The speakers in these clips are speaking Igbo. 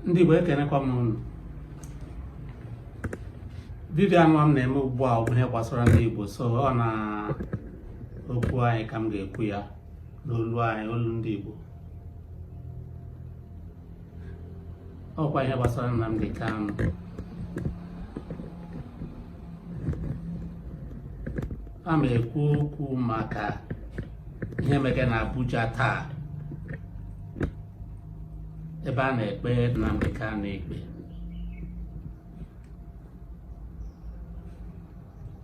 ndị Igbo ekenekwa m unu vidio anụwa m na-eme ugbu a bụ ihe gbasara ndị Igbo so ọ na okwu anyị ka m ga-ekwu ya n'olu anyị olu ndị Igbo ọkwa ihe gbasara Nnamdi Kanu a ma ekwu okwu maka ihe mege na Abuja taa ebe a na-ekpe Nnamdi Kanu ikpe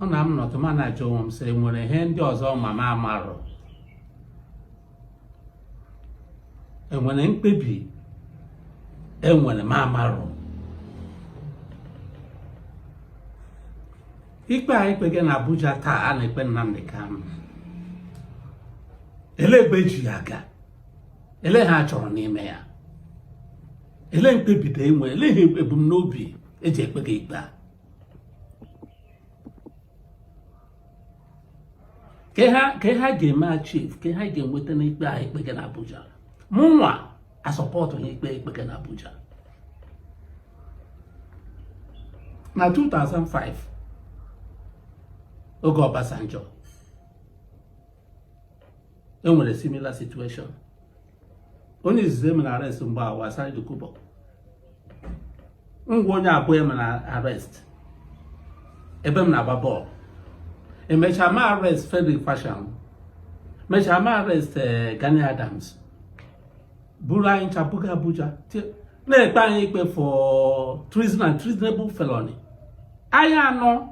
ọ na m nọtụ ma na-ajụ onwe m sị nwere ihe ndị ọzọ ma m amarụ enwere mkpebi enwere m amarụ ikpe a ekpege na Abuja taa a na-ekpe Nnamdi Kanu ele ebe eji ya aga ele ihe a chọrọ n'ime ya ele mkpebite enwe ele ihe ebumnobi eji ekpege ikpe a ka ha ga-eme achieve ka ha ga-enweta n'ikpe a ekpege na Abuja mụnwa asupportghị ikpe ekpege na Abuja na 2005 oge Obasanjo e nwere similar situation onye izizi emere arrest mgbe ahụ wụ Asari Dokubo m wụ onye abụọ emere arrest ebe m na-agba bọọlụ emechaa mee arrest Frederick Fasehun mechaa mee arrest eh, Gani Adams buru anyị ncha buga Abuja na-ekpe anyị ikpe for treason and treasonable felony anyị anọ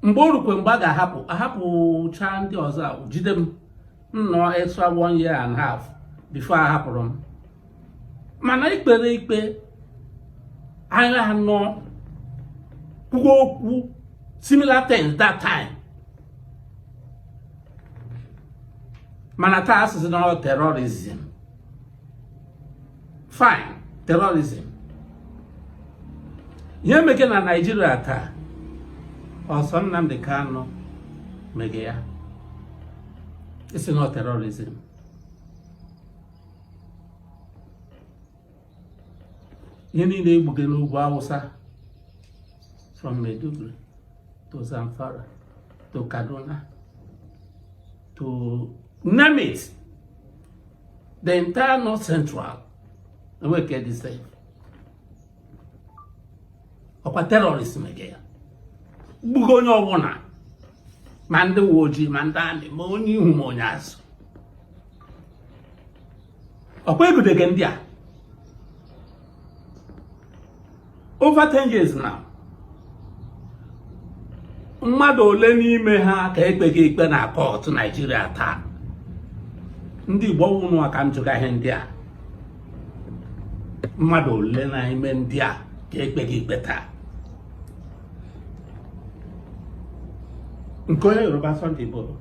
mgbe o rukwe mgbe a ga-ahapụ ahapụcha ndị ọzọ e jide m m nọọ extra one year and half before ahapụrụ m mana ekpere ikpe anyị anọ kwuo okwu similar things that time mana taa a sị sị na terrorism fine terrorism ihe mege na Naịjirịa taa ọ sọ Nnamdi Kanu mege ya ị sị na terrorism ihe niile egbuge n'ugwu Awụsa from Maiduguri to Zamfara to Kaduna to name it the entire north central enwe ke dị safe ọkwa terrorist mege ya gbugo onye ọbụla ma ndị uwe ojii ma ndị amị ma onye ihu ma onye azụ ọkwa egudege ndị a over 10 years now mmadụ ole n'ime ha ka ekpege ikpe na court naijiria taa ndị igbo ọ wụ unu ka m jụga ihe ndị a mmadụ ole n'ime ndị a ka ekpege ikpe taa nke onye yoruba sunday igboho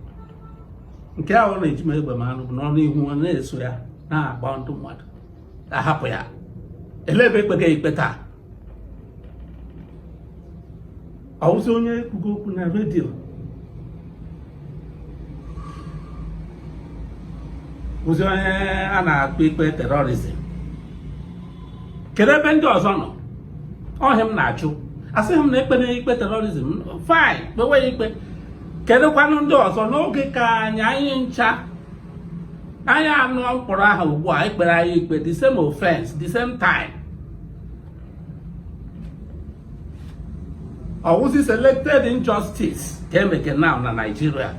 nke ahụ ọ na-eji m egbe m anụ bụ n'ọnụ ihu ọ na-eso ya na-agba ndị mmadụ ahapụ ya elee ebe ekpege ya ikpe taa ọwụzi onye kwugo okwu na redio bụzi onye a na-ekpe ikpe terrorism kedu ebe ndị ọzọ nọ ọ ihe m na-ajụ asịghị m na ekpere ikpe terrorism fine kpewe ya ikpe kedụkwanụ ndị ọzọ n'oge ka anyị anyị ncha anyị anụ m kpọrọ aha ugbu a ekpere anyị ikpe the same offense the same time ọwụzi selected injustice ka emege now na Nigeria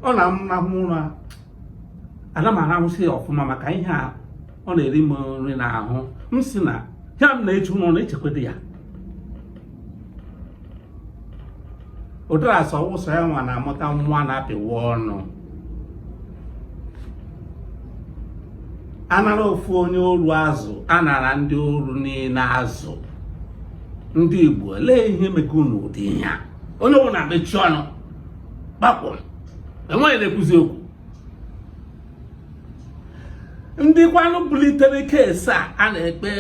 ọ na-amụna m ụra ana m arahụzi ya ọfụma maka ihe a ọ na-eri m nri n'ahụ m sị na ihe m na-eche unu na-echekwado ya ụdara sị ọ wụ sọ ya nwa na-amụta nwa a na-apịwa ọnụ anara ofu onye oru azụ anara ndị oru niile azụ ndị Igbo lee ihe mege unu ụdị ihe a onye ọbụla mechie ọnụ kpakpụrụ enweghị onye na-ekwuzi okwu ndị kwanụ bulitere keesi a a na-ekpe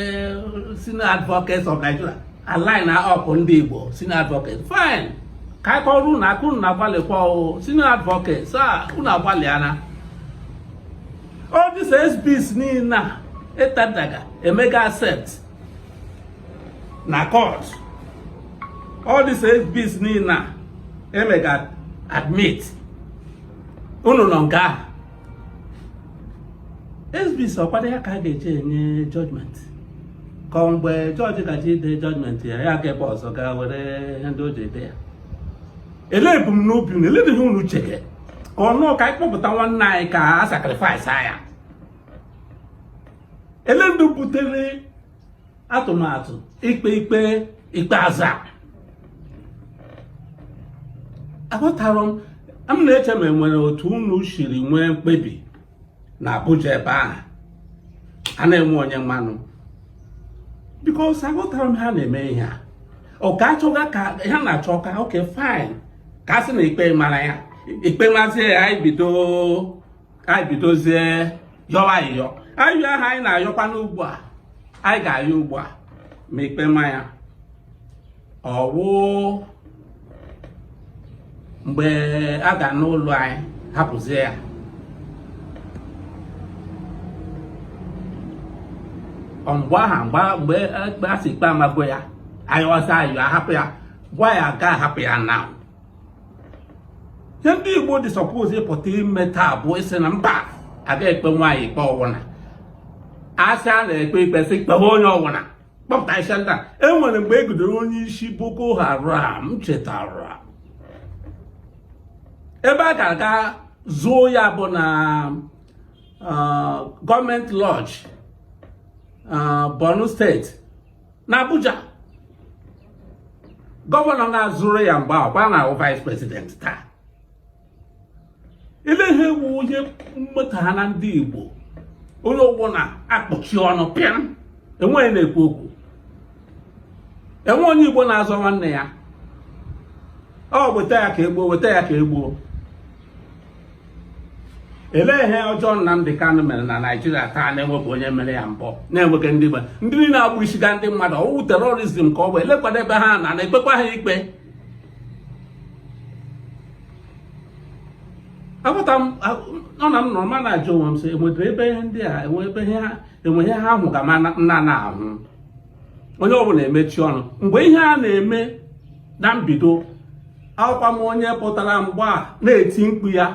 senior advocates of Nigeria a line up ndị Igbo senior advocates fine ka anyị kụọrọ unu aka unu na-agbalịkwa o senior advocates a unu agbalịana all these exhibits niile a e tenderga emega accept na court all these exhibits niile a emega admit unu nọ nga ahụ exhibits ọkwado ya ka a ga-eji enye judgment ka ọ mgbe jọji ga-eji ede judgment ya ya ga ebe ọzọ gaa were ihe ndị o ji ede ya elee ebumnobi unu elee ihe unu chege ka ọ wụ ka anyị kpọpụta nwanne anyị ka a sacrifice ya elee ndị butere atụmatụ ikpe ikpe ikpeazụ a aghọtara m m na-eche ma enwere otu unu shiri nwee mkpebi na Abuja ebe ahụ a na-enwe onye manụ because aghọtara m ha na-eme ihe a ọka achọga ka ha na-achọ ka okay fine ka a sị na ikpe mara ya ikpe mazie ya anyị bido ka anyị bidozie yọwa ayịyọ ayịyọ ahụ anyị na-ayọkwa n'ugbu a anyị ga-ayọ ugbu a ma ikpe ma ya ọ wụ mgbe a ga-anụlụ anyị hapụzie ya mgbe ahụ a sị ikpe amago ya ayọzi ayọ ahapụ ya gwa ya ga-ahapụ ya na ihe ndị Igbo dị suppose ịpụta ime taa bụ ịsị na mba aga ekpe nwa anyị ikpe ọ wụ na a sị a na-ekpe ikpe sị kpewe onye ọ wụna kpọpụta isi ndị a enwere mgbe e gidere onye isi Boko Haram chetara ebe a ga-aga zoo ya bụ na uh, government lodge uh, Borno state na Abuja governor na-azụrụ ya mgbe ọkwa na ọ wụ vice president taa ile ihe wụ onye mmeta ha na ndị Igbo onye ọbụna akpọchi ọnụ pịam enwe onye na-ekwu okwu enwe onye Igbo na-azọ nwanne ya ọ weta ya ka egbuo weta ya ka egbuo elee ihe ọjọọ Nnamdi Kanu mere na Naịjirịa taa na-enwebụ onye mere ya mbụ na-enweghị ndị Igbo ndị niile na-egbusiga ndị mmadụ ọ wụ terrorism ka ọ bụ elekwanụ ebe ha na na-ekpekwa ha ikpe aghọta m ọ na m nọrọ ma na-ajụ onwe m sị enwedị ebe ihe ndị a enwe ebe ihe ha enwe ihe ha hụga m na na-ahụ onye ọbụla emechi ọnụ mgbe ihe a na-eme na mbido ọ wụkwa m onye pụtara mgbe a na-eti mkpu ya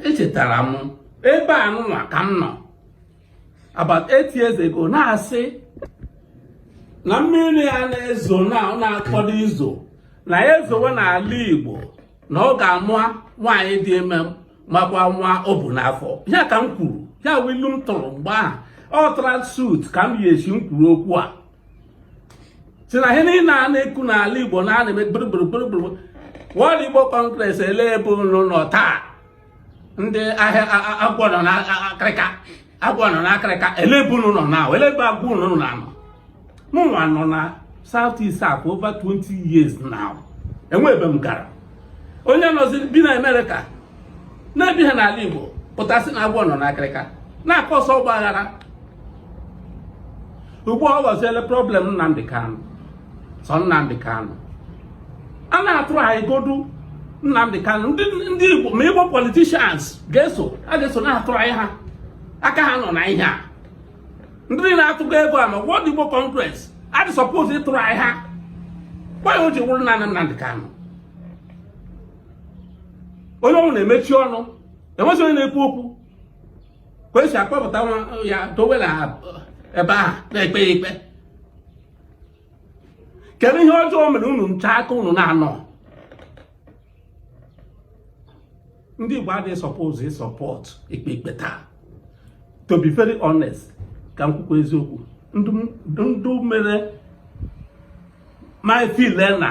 echetara m ebe a nụnwa ka m nọ about eight years ago na-asị na mmiri a na-ezo na na-akwado izo na ya ezowe n'ala Igbo na ọ ga-ama nwaanyị dị ime makwa nwa o bu n'afọ ya ka m kwuru ya wụ ilu m tụrụ mgbe ahụ ọ tara suit ka m yi esi m kwuru okwu a sị na ihe niile a na-ekwu n'ala Igbo na a na-eme gburugburu World Igbo Congress ele ebe unu nọ taa ndị ahịa agwọ nọ na akịrịka agwọ nọ n'akịrịka ele ebe unu nọ na ele ebe agwọ unu nọ na anọ mụnwa nọ na South East a for over 20 years now enwe ebe m gara onye nọzi bi na Amerịka na-ebi ha n'ala Igbo pụtasị na agwọ nọ n'akịrịka na-acause ọgbaghara ugbu a ọ ghọziele problem Nnamdi Kanu sọ Nnamdi Kanu a na-atụrụ anyị godu Nnamdi Kanu ndị Igbo ma Igbo politicians ga-eso a ga-eso na-atụrụ anyị ha aka ha nọ na ihe a ndị na-atụgo ego a ma World Igbo Congress adị suppose ịtụrụ anyị ha gwa ya o ji wụrụ naanị Nnamdi Kanu onye ọwụna emechi ọnụ enwezi onye na-ekwu okwu ka esi akpọpụta ya dowe na ebe ahụ na-ekpe ya ikpe kedu ihe ọjọọ o mere unu ncha aka unu na-anọ ndị Igbo adịghị suppose ịsọpọt ikpe ikpe taa to be very honest ka m kwukwa eziokwu ndụ mere m feel na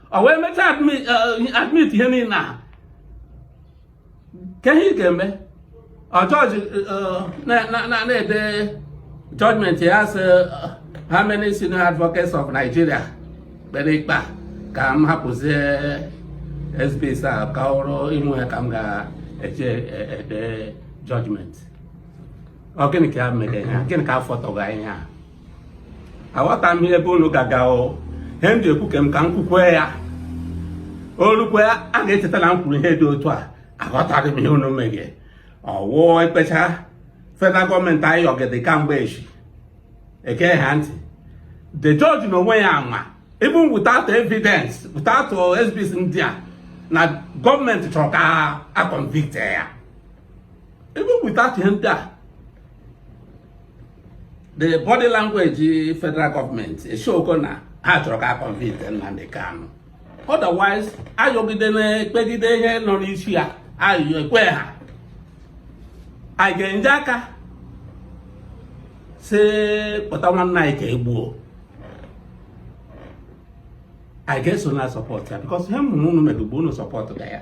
o wee mechaa admit ihe niile a ka ihe ị ga-eme jọji na-ede judgment ya sị how many senior advocates of Nigeria kpere ikpe a ka m hapụzie exhibits a ka ọrụ ịmụ ya ka m ga-eji ede judgment ọ gịnị ka ya mere ya gịnị ka afọ tọga ihe a aghọta m ebe unu gaga o ihe m ji ekwu ka m ka m kwukwe ya o rukwe a ga-echeta na m kwuru ihe dị otu a aghọtaghị m ihe unu meghe ọ wụ ekpecha federal gọọmenti ayọgide kamgbe echi ege ha ntị the judge na onwe ya ama even without evidence without exhibits ndị a na gọọmenti chọrọ ka a convict ya even without ihe ndị a the body language federal government eshowgo na ha chọrọ ka a convict Nnamdi Kanu otherwise ayọgide na-ekpegide ihe nọ n'isi ya ayọ ekwe ha anyị ga-enye aka si kpọta nwanne anyị ka egbuo anyị ga-eso na-asọpọt ya because ihe m hụrụ unu mere ugbo unu sọpọt ga ya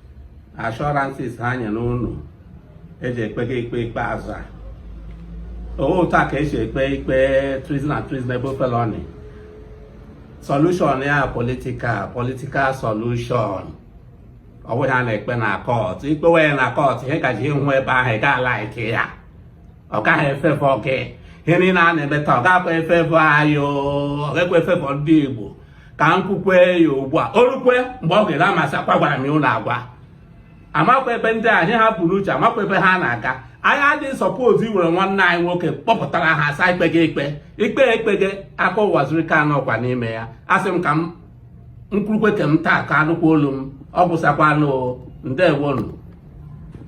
assurances ha nye unu eji ekpe gị ikpe ikpeazụ a ọ wụ otu a ka esi ekpe ikpe treason and treasonable felony solution ya political political solution ọ bụghị a na-ekpe na kọt i kpewe na kọt ihe gaji ịhụ ebe ahụ ị ga-alike ya ọ gaghị efavour gị ihe niile a na-eme taa ọ gakwa efavour anyị ọ gakwa efavour ndị Igbo ka m kwukwe ya ugbu a o rukwe mgbe ọ ga-ele amasị akwa gwara m ya ụlọ agwa amakwa ebe ndị a ihe ha bu n'uche amakwa ebe ha na-aga anyị adịghị suppose iwere nwanne anyị nwoke kpọpụtara ha asa ekpe gị ikpe ikpe ekpe gị aka Ụwazuruike nọkwa n'ime ya asị m ka m kwurukwe nke m taa ka anụkwa olu m ọ gwụsakwanụ ndewonụ